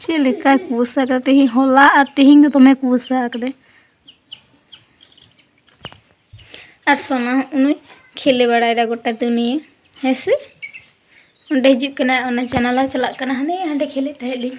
ᱪᱮᱫ ᱞᱮᱠᱟ ᱠᱩᱥ ᱟᱠᱟᱫᱟ ᱛᱮᱦᱮᱧ ᱦᱚᱞᱟ ᱟᱨ ᱛᱮᱦᱮᱧ ᱫᱚ ᱫᱚᱢᱮ ᱠᱩᱥ ᱟᱠᱟᱫᱟ ᱟᱨ ᱥᱚᱱᱟ ᱩᱱᱤ ᱠᱷᱮᱞᱮ ᱵᱟᱲᱟᱭᱮᱫᱟ ᱜᱚᱴᱟ ᱫᱩᱱᱤᱭᱟᱹ ᱦᱮᱸ ᱥᱮ ᱚᱸᱰᱮ ᱦᱤᱡᱩᱜ ᱠᱟᱱᱟ ᱚᱱᱟ ᱡᱟᱱᱟᱞᱟ ᱪᱟᱞᱟᱜ ᱠᱟᱱᱟ ᱦᱟᱱᱮ ᱦᱟᱸᱰᱮ ᱠᱷᱮᱞᱮᱫ ᱛᱟᱦᱮᱸᱫ ᱞᱤᱧ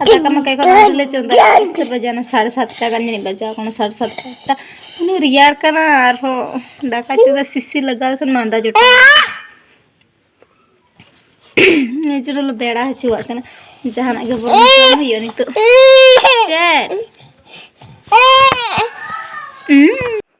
ᱟᱫᱚ ᱠᱟᱢᱟ ᱠᱟᱭ ᱠᱚ ᱞᱮ ᱪᱚᱸᱫᱟ ᱤᱥᱛᱮ ᱵᱟᱡᱟᱱᱟ ᱥᱟᱲᱮ ᱥᱟᱛᱴᱟ ᱜᱟᱱ ᱡᱟᱹᱱᱤᱡ ᱵᱟᱡᱟᱣ ᱠᱟᱱᱟ ᱥᱟᱲᱮ ᱥᱟᱛᱴᱟ ᱩᱱᱤ ᱨᱮᱭᱟᱲ ᱠᱟᱱᱟ ᱟᱨᱦᱚᱸ ᱫᱟᱠᱟ ᱪᱚᱸᱫᱟ ᱥᱤᱥᱤ ᱞᱟᱜᱟᱣ ᱠᱷᱟᱱ ᱢᱟᱸᱫᱟ ᱡᱚᱴᱟᱣ ᱱᱤᱡᱮᱨ ᱞᱮ ᱵᱮᱲᱟ ᱦᱚᱪᱚᱣᱟᱜ ᱠᱟᱱᱟ ᱡᱟᱦᱟᱱᱟᱜ ᱜᱮ ᱵᱚᱱ ᱡᱚᱢ ᱦᱩᱭᱩᱜᱼᱟ ᱱᱤᱛᱚᱜ ᱪᱮᱫ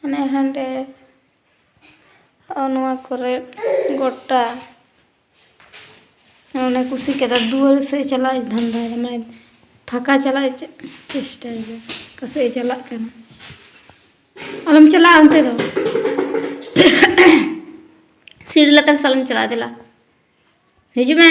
ᱦᱟᱱᱮ ᱦᱟᱸᱰᱮ ᱱᱚᱣᱟ ᱠᱚᱨᱮ ᱜᱚᱴᱟ ᱚᱱᱮ ᱠᱩᱥᱤ ᱠᱮᱫᱟ ᱫᱩᱣᱟᱹᱨ ᱥᱮ ᱪᱟᱞᱟᱜ ᱤᱧ ᱫᱷᱟᱱᱫᱟᱭᱮᱫᱟ ᱢᱟᱱᱮ ᱯᱷᱟᱸᱠᱟ ᱪᱟᱞᱟᱜ ᱤᱧ ᱪᱮᱥᱴᱟᱭᱮᱫᱟ ᱚᱠᱟ ᱥᱮᱫ ᱮ ᱪᱟᱞᱟᱜ ᱠᱟᱱᱟ ᱟᱞᱚᱢ ᱪᱟᱞᱟᱜᱼᱟ ᱚᱱᱛᱮ ᱫᱚ ᱥᱤᱲ ᱞᱟᱛᱟᱨ ᱥᱟᱞᱚᱢ ᱪᱟᱞᱟᱜᱼᱟ ᱫᱮᱞᱟ ᱦᱤᱡᱩᱜ ᱢᱮ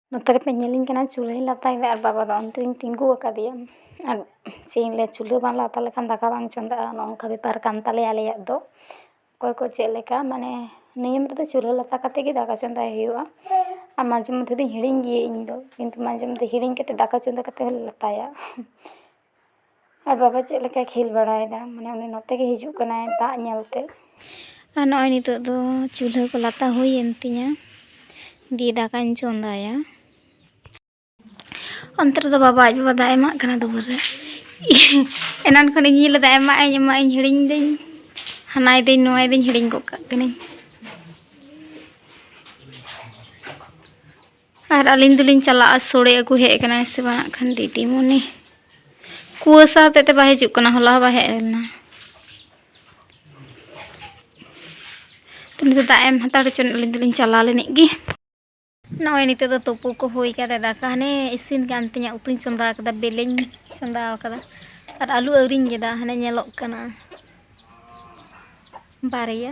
ᱱᱚᱛᱮ ᱨᱮᱯᱮ ᱧᱮᱞᱤᱧ ᱠᱟᱱᱟ ᱪᱩᱞᱦᱟᱹᱧ ᱞᱟᱛᱟᱨ ᱨᱮ ᱟᱨ ᱵᱟᱵᱟ ᱫᱚ ᱚᱱᱛᱮ ᱨᱮᱧ ᱛᱤᱸᱜᱩ ᱟᱠᱟᱫᱮᱭᱟ ᱟᱨ ᱪᱮᱫ ᱤᱧ ᱞᱟᱹᱭᱟ ᱪᱩᱞᱦᱟᱹ ᱵᱟᱢ ᱞᱟᱛᱟ ᱞᱮᱠᱷᱟᱱ ᱫᱟᱠᱟ ᱵᱟᱝ ᱪᱚᱸᱫᱟᱜᱼᱟ ᱚᱱᱮ ᱚᱱᱠᱟ ᱵᱮᱯᱟᱨ ᱠᱟᱱ ᱛᱟᱞᱮᱭᱟ ᱟᱞᱮᱭᱟᱜ ᱫᱚ ᱚᱠᱚᱭ ᱠᱚ ᱪᱮᱫ ᱞᱮᱠᱟ ᱢᱟᱱᱮ ᱱᱤᱭᱚᱢ ᱨᱮᱫᱚ ᱪᱩᱞᱦᱟᱹ ᱞᱟᱛᱟ ᱠᱟᱛᱮ ᱜᱮ ᱫᱟᱠᱟ ᱪᱚᱸᱫᱟᱭ ᱦᱩᱭᱩᱜᱼᱟ ᱟᱨ ᱢᱟᱡᱷᱮ ᱢᱚᱫᱽᱫᱷᱮ ᱫᱚᱧ ᱦᱤᱲᱤᱧ ᱜᱮᱭᱟ ᱤᱧ ᱫᱚ ᱠᱤᱱᱛᱩ ᱢᱟᱡᱷᱮ ᱢᱚᱫᱽᱫᱷᱮ ᱦᱤᱲᱤᱧ ᱠᱟᱛᱮ ᱫᱟᱠᱟ ᱪᱚᱸᱫᱟ ᱠᱟᱛᱮ ᱦᱚᱸᱞᱮ ᱞᱟᱛᱟᱭᱟ ᱟᱨ ᱵᱟᱵᱟ ᱪᱮᱫ ᱞᱮᱠᱟᱭ ᱠᱷᱮᱞ ᱵᱟᱲᱟᱭᱮᱫᱟ ᱢᱟᱱᱮ ᱩᱱᱤ ᱱᱚᱛᱮ ᱜᱮᱭ ᱦᱤᱡᱩᱜ ᱠᱟᱱᱟᱭ ᱫᱟᱜ ᱧᱮᱞ ᱛᱮ ᱟᱨ ᱱᱚᱜᱼᱚᱭ ᱱᱤᱛᱚᱜ ᱫᱚ ᱪᱩᱞᱦᱟᱹ ᱠᱚ ᱞᱟᱛᱟ ᱦᱩᱭᱮᱱ ᱛᱤᱧᱟᱹ ᱫᱤᱭᱮ ᱫᱟᱠᱟᱧ ᱪᱚᱸᱫᱟᱭᱟ ᱚᱱᱛᱮ ᱨᱮᱫᱚ ᱵᱟᱵᱟ ᱟᱡ ᱵᱟᱵᱟ ᱫᱟᱜ ᱮᱢᱟᱜ ᱠᱟᱱᱟ ᱫᱩᱣᱟᱹᱨ ᱨᱮ ᱮᱱᱟᱱ ᱠᱷᱚᱱ ᱤᱧ ᱧᱮᱞ ᱞᱮᱫᱟ ᱮᱢᱟᱜ ᱟᱹᱧ ᱮᱢᱟᱜ ᱟᱹᱧ ᱦᱤᱲᱤᱧ ᱫᱟᱹᱧ ᱦᱟᱱᱟᱭ ᱫᱟᱹᱧ ᱱᱚᱣᱟᱭ ᱫᱟᱹᱧ ᱦᱤᱲᱤᱧ ᱜᱚᱫ ᱠᱟᱜ ᱠᱟᱹᱱᱟᱹᱧ ᱟᱨ ᱟᱹᱞᱤᱧ ᱫᱚᱞᱤᱧ ᱪᱟᱞᱟᱜᱼᱟ ᱥᱳᱲᱮ ᱟᱹᱜᱩ ᱦᱮᱡ ᱟᱠᱟᱱᱟᱭ ᱥᱮ ᱵᱟᱝ ᱦᱟᱸᱜ ᱠᱷᱟᱱ ᱫᱤᱫᱤᱢᱩᱱᱤ ᱠᱩᱣᱟᱹᱥᱟ ᱦᱚᱛᱮᱡ ᱛᱮ ᱵᱟᱭ ᱦᱤᱡᱩᱜ ᱠᱟᱱᱟ ᱦᱚᱞᱟ ᱦᱚᱸ ᱵᱟᱭ ᱦᱮᱡ ᱞᱮᱱᱟ ᱛᱮᱢᱱᱤ ᱫᱟᱜ ᱮᱢ ᱦᱟᱛᱟᱲ ᱦᱚᱪᱚ ᱟᱹᱞᱤᱧ ᱫᱚᱞᱤᱧ ᱪᱟᱞᱟᱣ ᱞᱮᱱᱤᱡ ᱜᱮ ᱱᱚᱜᱼᱚᱭ ᱱᱤᱛᱚᱜ ᱫᱚ ᱛᱩᱯᱩ ᱠᱚ ᱦᱩᱭ ᱠᱟᱛᱮ ᱫᱟᱠᱟ ᱦᱟᱱᱮ ᱤᱥᱤᱱ ᱠᱟᱱ ᱛᱤᱧᱟᱹ ᱩᱛᱩᱧ ᱪᱚᱸᱫᱟ ᱟᱠᱟᱫᱟ ᱵᱮᱞᱮᱧ ᱪᱚᱸᱫᱟ ᱟᱠᱟᱫᱟ ᱟᱨ ᱟᱹᱞᱩ ᱟᱹᱣᱨᱤᱧ ᱜᱮᱫᱟ ᱦᱟᱱᱮ ᱧᱮᱞᱚᱜ ᱠᱟᱱᱟ ᱵᱟᱨᱭᱟ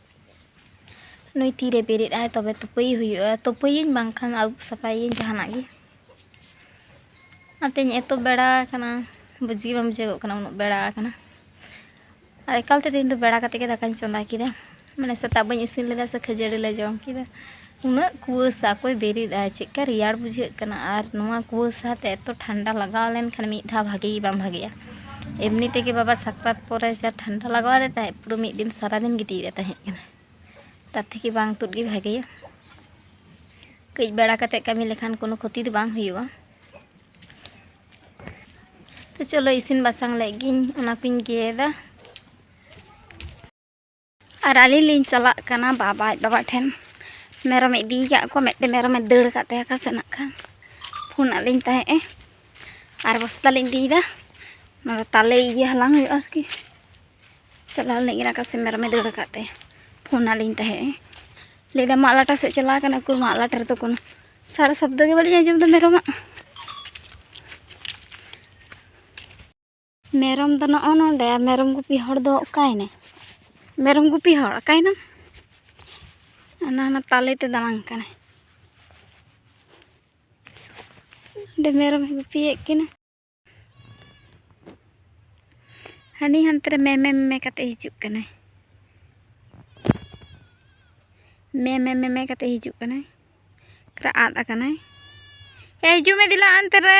ᱱᱩᱭ ᱛᱤᱨᱮ ᱵᱮᱨᱮᱫ ᱟᱭ ᱛᱚᱵᱮ ᱛᱩᱯᱟᱹᱭᱮ ᱦᱩᱭᱩᱜᱼᱟ ᱛᱩᱯᱟᱹᱭᱟᱹᱧ ᱵᱟᱝᱠᱷᱟᱱ ᱟᱹᱨᱩᱵ ᱥᱟᱯᱷᱟᱭᱟᱹᱧ ᱡᱟᱦᱟᱱᱟᱜ ᱜᱮ ᱚᱱᱟᱛᱮᱧ ᱮᱛᱚ ᱵᱮᱲᱟ ᱟᱠᱟᱱᱟ ᱵᱩᱡᱽ ᱜᱮ ᱵᱟᱝ ᱵᱩᱡᱷᱟᱹᱜᱚᱜ ᱠᱟᱱᱟ ᱩᱱᱟᱹᱜ ᱵᱮᱲᱟ ᱟᱠᱟᱱᱟ ᱟᱨ ᱮᱠᱟᱞᱛᱮ ᱛᱮᱦᱮᱧ ᱫᱚ ᱵᱮᱲᱟ ᱠᱟᱛᱮᱫ ᱜᱮ ᱫᱟᱠᱟᱧ ᱪᱚᱸᱫᱟ ᱠᱮᱫᱟ ᱢᱟᱱᱮ ᱥᱮᱛᱟᱜ ᱵᱟᱹᱧ ᱤᱥᱤᱱ ᱞᱮᱫᱟ ᱥᱮ ᱠᱷᱟᱹᱡᱟᱹᱲᱤ ᱞᱮ ᱡᱚᱢ ᱠᱮᱫᱟ ᱩᱱᱟᱹᱜ ᱠᱩᱣᱟᱹᱥᱟ ᱚᱠᱚᱭ ᱵᱮᱨᱮᱫᱼᱟ ᱪᱮᱫᱠᱟ ᱨᱮᱭᱟᱲ ᱵᱩᱡᱷᱟᱹᱜ ᱠᱟᱱᱟ ᱟᱨ ᱱᱚᱣᱟ ᱠᱩᱣᱟᱹᱥᱟ ᱛᱮ ᱮᱛᱚ ᱴᱷᱟᱱᱰᱟ ᱞᱟᱜᱟᱣ ᱞᱮᱱᱠᱷᱟᱱ ᱢᱤᱫ ᱫᱷᱟᱣ ᱵᱷᱟᱜᱮ ᱜᱮ ᱵᱟᱝ ᱵᱷᱟᱜᱮᱜᱼᱟ ᱮᱢᱱᱤ ᱛᱮᱜᱮ ᱵᱟᱵᱟ ᱥᱟᱠᱨᱟᱛ ᱯᱚᱨᱮ ᱡᱟ ᱴᱷᱟᱱᱰᱟ ᱞᱟᱜᱟᱣ ᱟᱫᱮ ᱛᱟᱦᱮᱸᱫ ᱯᱩᱨᱟᱹ ᱢᱤᱫ ᱫᱤᱱ ᱥᱟᱨᱟ ᱫᱤᱱ ᱜᱤᱛᱤᱡ ᱨᱮ ᱛᱟᱦᱮᱸ ᱠᱟᱱᱟᱭ ᱛᱟᱨ ᱛᱷᱮᱠᱮ ᱵᱟᱝ ᱛᱩᱫ ᱜᱮ ᱵᱷᱟᱜᱮᱭᱟ ᱠᱟᱹᱡ ᱵᱮᱲᱟ ᱠᱟᱛᱮ ᱠᱟᱹᱢᱤ ᱞᱮᱠᱷᱟᱱ ᱠᱳᱱᱳ ᱠᱷᱚᱛᱤ ᱫᱚ ᱵᱟᱝ ᱦᱩᱭᱩᱜᱼᱟ ᱛᱚ ᱪᱚᱞᱚ ᱤᱥᱤᱱ ᱵᱟᱥᱟᱝ ᱞᱮᱫ ᱜᱤᱧ ᱚᱱᱟ ᱠᱚᱧ ᱜᱮᱫᱟ ᱟᱨ ᱟᱹᱞᱤᱧ ᱞᱤᱧ ᱪᱟᱞᱟᱜ ᱠᱟᱱᱟ ᱵᱟᱵᱟ ᱟᱡ ᱵᱟᱵᱟ ᱴᱷᱮᱱ ᱢᱮᱨᱚᱢ ᱤᱫᱤ ᱠᱟᱜ ᱠᱚ ᱢᱤᱫᱴᱮᱱ ᱢᱮᱨᱚᱢ ᱮ ᱫᱟᱹᱲ ᱠᱟᱜ ᱛᱟᱭᱟ ᱚᱠᱟ ᱥᱮᱫ ᱱᱟᱜ ᱠᱷᱟᱱ ᱯᱷᱳᱱ ᱟᱫ ᱞᱤᱧ ᱛᱟᱦᱮᱸᱜ ᱮ ᱟᱨ ᱵᱚᱥᱛᱟ ᱞᱤᱧ ᱤᱫᱤᱭᱮᱫᱟ ᱚᱱᱟ ᱫᱚ ᱛᱟᱞᱮ ᱤᱭᱟᱹ ᱦᱟᱞᱟᱝ ᱦᱩᱭᱩᱜᱼᱟ ᱟᱨᱠᱤ ᱪᱟᱞᱟᱣ ᱞᱤᱧ ᱚᱠᱟ ᱥᱮᱫ ᱢᱮᱨᱚᱢ ᱮ ᱫᱟᱹᱲ ᱠᱟᱜ ᱛᱟᱭᱟ ᱯᱷᱳᱱ ᱟᱫ ᱞᱤᱧ ᱛᱟᱦᱮᱸᱜ ᱮ ᱞᱟᱹᱭᱫᱟ ᱢᱟᱜ ᱞᱟᱴᱟ ᱥᱮᱫ ᱪᱟᱞᱟᱣ ᱠᱟᱱᱟ ᱩᱠᱩᱨ ᱢᱟᱜ ᱞᱟᱴᱟ ᱨᱮᱫᱚ ᱠᱳᱱᱳ ᱥᱟᱨᱟ ᱥᱚᱵᱫᱚ ᱜᱮ ᱵᱟᱹᱞᱤᱧ ᱟᱸᱡᱚᱢᱫᱟ ᱢᱮᱨᱚᱢᱟᱜ ᱢᱮᱨᱚᱢ ᱫᱚ ᱱᱚᱜᱼᱚ ᱱᱚᱰᱮ ᱢᱮᱨᱚᱢ ᱜᱩᱯᱤ ᱦᱚᱲ ᱫᱚ ᱚᱠᱟᱭᱮᱱᱟᱭ ᱢᱮᱨᱚᱢ ᱜᱩᱯᱤ ᱦᱚᱲ ᱚᱠᱟᱭᱮᱱᱟᱢ ᱚᱱᱟ ᱚᱱᱟ ᱛᱟᱞᱮᱛᱮ ᱫᱟᱬᱟᱱ ᱠᱟᱱᱟᱭ ᱚᱸᱰᱮ ᱢᱮᱨᱚᱢᱮ ᱜᱩᱯᱤᱭᱮᱫ ᱠᱤᱱᱟ ᱦᱟᱹᱱᱤ ᱦᱟᱱᱛᱮ ᱨᱮ ᱢᱮ ᱢᱮ ᱢᱮ ᱠᱟᱛᱮ ᱦᱤᱡᱩᱜ ᱠᱟᱱᱟᱭ ᱢᱮ ᱢᱮ ᱢᱮ ᱢᱮ ᱠᱟᱛᱮ ᱦᱤᱡᱩᱜ ᱠᱟᱱᱟᱭ ᱟᱫ ᱟᱠᱟᱱᱟᱭ ᱮ ᱦᱤᱡᱩᱜ ᱢᱮ ᱫᱮᱞᱟ ᱚᱱᱛᱮ ᱨᱮ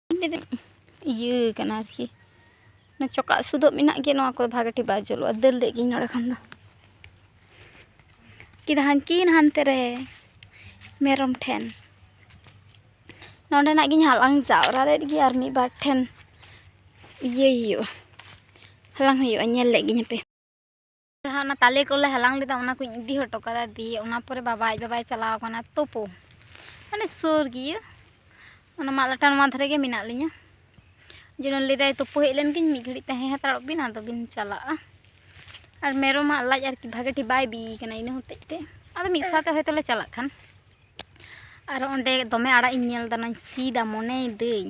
ᱤᱭᱟᱹ ᱠᱟᱱᱟ ᱟᱨᱠᱤ ᱚᱱᱟ ᱪᱚᱠᱟᱜ ᱥᱩᱫᱚᱜ ᱢᱮᱱᱟᱜ ᱜᱮᱭᱟ ᱱᱚᱣᱟ ᱠᱚ ᱵᱷᱟᱜᱮ ᱴᱷᱤᱠ ᱵᱟᱭ ᱡᱩᱞᱩᱜᱼᱟ ᱫᱟᱹᱲ ᱞᱮᱫ ᱜᱤᱧ ᱱᱚᱰᱮ ᱠᱷᱚᱱ ᱫᱚ ᱠᱤᱱ ᱦᱟᱱᱠᱤᱱ ᱦᱟᱱᱛᱮ ᱨᱮ ᱢᱮᱨᱚᱢ ᱴᱷᱮᱱ ᱱᱚᱰᱮᱱᱟᱜ ᱜᱤᱧ ᱦᱟᱞᱟᱝ ᱡᱟᱣᱨᱟ ᱞᱮᱫ ᱜᱮ ᱟᱨ ᱢᱤᱫ ᱵᱟᱨ ᱴᱷᱮᱱ ᱤᱭᱟᱹᱭ ᱦᱩᱭᱩᱜᱼᱟ ᱦᱟᱞᱟᱝ ᱦᱩᱭᱩᱜᱼᱟ ᱧᱮᱞ ᱞᱮᱫ ᱜᱤᱧ ᱦᱟᱯᱮ ᱡᱟᱦᱟᱸ ᱚᱱᱟ ᱛᱟᱞᱮ ᱠᱚᱞᱮ ᱦᱟᱞᱟᱝ ᱞᱮᱫᱟ ᱚᱱᱟ ᱠᱚᱧ ᱤᱫᱤ ᱦᱚᱴᱚ ᱠᱟᱫᱟ ᱫᱤᱭᱮ ᱚᱱᱟ ᱯᱚᱨᱮ ᱵᱟᱵᱟ ᱟᱡ ᱵᱟᱵᱟᱭ ᱪᱟᱞᱟᱣ ᱟᱠᱟᱱᱟ ᱛᱳᱯᱳ ᱢᱟᱱᱮ ᱥᱩᱨ ᱜᱮᱭᱟ ᱚᱱᱟ ᱢᱟᱫ ᱞᱟᱴᱟ ᱱᱚᱣᱟ ᱫᱷᱟᱨᱮ ᱜᱮ ᱢᱮᱱᱟᱜ ᱞᱤᱧᱟ ᱡᱮᱱᱚ ᱞᱟᱹᱭᱫᱟᱭ ᱛᱳᱯᱳ ᱦᱮᱡ ᱞᱮᱱ ᱜᱤᱧ ᱢᱤᱫ ᱜᱷᱟᱹᱲᱤᱡ ᱛᱟᱦᱮᱸ ᱦᱟᱛᱟᱲᱚᱜ ᱵᱤᱱ ᱟᱫᱚ ᱵᱤᱱ ᱪᱟᱞᱟᱜᱼᱟ ᱟᱨ ᱢᱮᱨᱚᱢᱟᱜ ᱞᱟᱡ ᱟᱨᱠᱤ ᱵᱷᱟᱜᱮ ᱴᱷᱤᱠ ᱵᱟᱭ ᱵᱤ ᱠᱟᱱᱟ ᱤᱱᱟᱹ ᱦᱚᱛᱮᱡ ᱛᱮ ᱟᱫᱚ ᱢᱤᱫ ᱥᱟᱶᱛᱮ ᱦᱚᱭᱛᱚ ᱞᱮ ᱪᱟᱞᱟᱜ ᱠᱷᱟᱱ ᱟᱨ ᱚᱸᱰᱮ ᱫᱚᱢᱮ ᱟᱲᱟᱜ ᱤᱧ ᱧᱮᱞ ᱫᱟ ᱱᱚᱣᱟᱧ ᱥᱤᱫᱟ ᱢᱚᱱᱮᱭ ᱫᱟᱹᱧ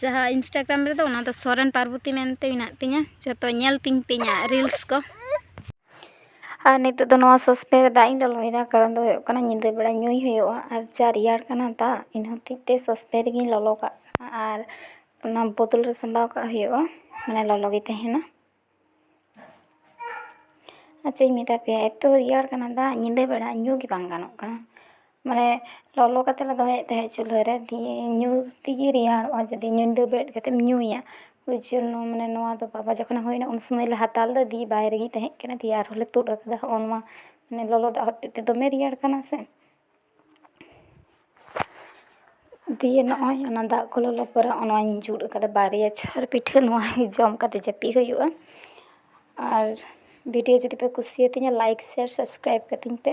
ᱡᱟᱦᱟᱸ ᱤᱱᱥᱴᱟᱜᱨᱟᱢ ᱨᱮᱫᱚ ᱚᱱᱟ ᱫᱚ ᱥᱚᱨᱮᱱ ᱯᱟᱨᱵᱚᱛᱤ ᱢᱮᱱᱛᱮ ᱢᱮᱱᱟᱜ ᱛᱤᱧᱟᱹ ᱡᱚᱛᱚ ᱧᱮᱞ ᱛᱤᱧ ᱯᱮ ᱤᱧᱟᱹᱜ ᱨᱤᱞᱥ ᱠᱚ ᱟᱨ ᱱᱤᱛᱚᱜ ᱫᱚ ᱱᱚᱣᱟ ᱥᱚᱥᱯᱮᱱ ᱨᱮ ᱫᱟᱜ ᱤᱧ ᱞᱚᱞᱚᱭᱮᱫᱟ ᱠᱟᱨᱚᱱ ᱫᱚ ᱦᱩᱭᱩᱜ ᱠᱟᱱᱟ ᱧᱤᱫᱟᱹ ᱵᱮᱲᱟ ᱧᱩᱭ ᱦᱩᱭᱩᱜᱼᱟ ᱟᱨ ᱡᱟ ᱨᱮᱭᱟᱲ ᱠᱟᱱᱟ ᱫᱟᱜ ᱤᱱᱟᱹ ᱦᱚᱛᱮᱡ ᱛᱮ ᱥᱚᱥᱯᱮᱱ ᱨᱮᱜᱮᱧ ᱞᱚᱞᱚ ᱠᱟᱜ ᱠᱟᱱᱟ ᱟᱨ ᱚᱱᱟ ᱵᱳᱛᱚᱞ ᱨᱮ ᱥᱟᱢᱵᱟᱣ ᱠᱟᱜ ᱦᱩᱭᱩᱜᱼᱟ ᱢᱟᱱᱮ ᱞᱚᱞᱚ ᱜᱮ ᱛᱟᱦᱮᱱᱟ ᱟᱨ ᱪᱮᱫ ᱤᱧ ᱢᱮᱛᱟ ᱯᱮᱭᱟ ᱮᱛᱚ ᱨᱮᱭᱟᱲ ᱠᱟᱱᱟ ᱫᱟᱜ ᱧᱤᱫᱟᱹ ᱵᱮᱲᱟ ᱧᱩ ᱜᱮ ᱵᱟᱝ ᱜᱟᱱᱚᱜ ᱠᱟᱱᱟ ᱢᱟᱱᱮ ᱞᱚᱞᱚ ᱠᱟᱛᱮ ᱞᱮ ᱫᱚᱦᱚᱭᱮᱫ ᱛᱟᱦᱮᱸᱫ ᱪᱩᱞᱦᱟᱹ ᱨᱮ ᱫᱤᱭᱮ ᱧᱩ ᱛᱮᱜᱮ ᱨᱮᱭᱟᱲᱚᱜᱼᱟ ᱡᱩᱫᱤ ᱧᱤᱫᱟᱹ ᱵᱮᱨᱮᱫ ᱠᱟᱛᱮᱢ ᱧᱩᱭᱟ ᱳᱭ ᱡᱚᱱᱱᱚ ᱢᱟᱱᱮ ᱱᱚᱣᱟ ᱫᱚ ᱵᱟᱵᱟ ᱡᱚᱠᱷᱚᱱᱮ ᱦᱩᱭᱱᱟ ᱩᱱ ᱥᱚᱢᱚᱭ ᱞᱮ ᱦᱟᱛᱟᱣ ᱞᱮᱫᱟ ᱫᱤᱭᱮ ᱵᱟᱭ ᱨᱮᱜᱮ ᱛᱟᱦᱮᱸᱠᱟᱱᱟ ᱫᱤᱭᱮ ᱟᱨᱦᱚᱸ ᱞᱮ ᱛᱩᱫ ᱟᱠᱟᱫᱟ ᱦᱚᱸᱜᱼᱚ ᱱᱚᱣᱟ ᱢᱟᱱᱮ ᱞᱚᱞᱚ ᱫᱟᱜ ᱦᱚᱛᱮᱡ ᱛᱮ ᱫᱚᱢᱮ ᱨᱮᱭᱟᱲ ᱠᱟᱱᱟ ᱥᱮ ᱫᱤᱭᱮ ᱱᱚᱜᱼᱚᱭ ᱚᱱᱟ ᱫᱟᱜ ᱠᱚ ᱞᱚᱞᱚ ᱯᱚᱨᱮ ᱚᱱᱟᱧ ᱡᱩᱛ ᱠᱟᱫᱟ ᱵᱟᱨᱭᱟ ᱪᱷᱚᱨ ᱯᱤᱴᱷᱟᱹ ᱱᱚᱣᱟ ᱡᱚᱢ ᱠᱟᱛᱮ ᱡᱟᱹᱯᱤᱫ ᱦᱩᱭᱩᱜᱼᱟ ᱟᱨ ᱵᱷᱤᱰᱤᱭᱳ ᱡᱩᱫᱤ ᱯᱮ ᱠᱩᱥᱤᱭᱟᱛᱤᱧᱟ ᱞᱟᱭᱤᱠ ᱥᱮᱭᱟᱨ ᱥᱟᱵᱥᱠᱨᱟᱭᱤᱵᱽ ᱠᱟᱹᱛᱤᱧ ᱯᱮ